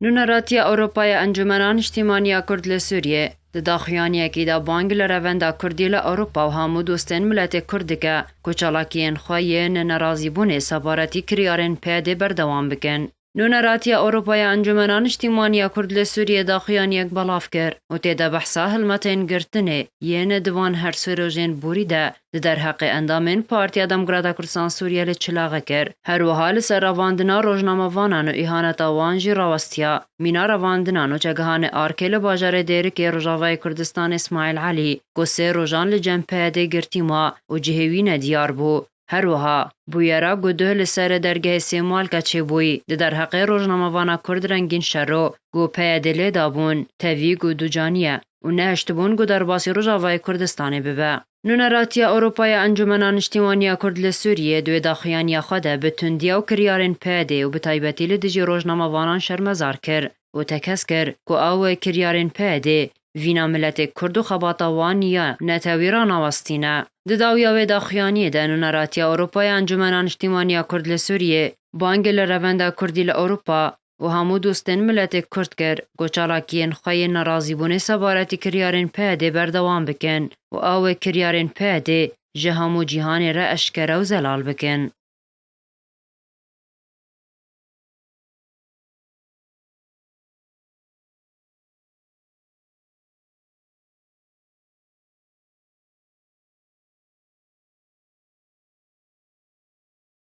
Nûneratiya Ewropa ya Encûmena Niştîmanî ya Kurd li Sûriyê, di daxuyaniyekî de bang li revenda Kurdî li Ewropa û hemû dostên miletê Kurd dike ku çalakiyên xwe yên nerazîbûnê sebaretî kiryarên PYDê berdewam bikin. Nûneratiya Ewropa ya Encûmena Niştîmanî ya Kurd li Sûriyê daxuyaniyek belav kir û tê de behsa hilmetên girtinê yên di van hersû rojên borî de di derheqê endamên Partiya Demokrata Kurdistan Sûriyê li Çilagê kir. Her wiha li ser revandina rojnamevanan û îhaneta wan jî rawestiya mîna revandina nûçegihanê ARK'ê li bajarê Dêrikê Rojavayê Kurdistanê Smaîl Elî ku sê rojan li cem PYD'ê girtî ma û cihê wî ne diyar bû. Her wiha bûyera guduh li serê dergehê Sêmalka çêbûyî di derheqê rojnamevana Kurd Rengîn Şero ku PYD'ê lê dabûn tevî ku ducaniye. û nehiştibûn ku derbasî Rojavayê Kurdistanê bibe. Nûneratiya Ewropa ya Encûmena Niştîmaniya Kurd li Sûriyê di wê daxuyaniya xwe de bi tundiya û kiryarên PYD û bi taybetî li dijî rojnamevanan şermezar kir û tekez kir ku ew kiryarên PYD vîna miletê Kurd û xebata wan ya netewî ranawestîne. Di dawiya wê daxuyaniyê de Nûneratiya Ewropa ya Encûmena Niştîmaniya Kurd li Sûriyê bang li Revenda Kurdî li Ewropa, û hemû dostên miletê Kurd kir ku çalakiyên xwe yên nerazîbûnê sebaretî kiryarên PYD'ê berdewam bikin û ew ê kiryarên PYD'ê ji hemû cîhanê re eşkere û zelal bikin.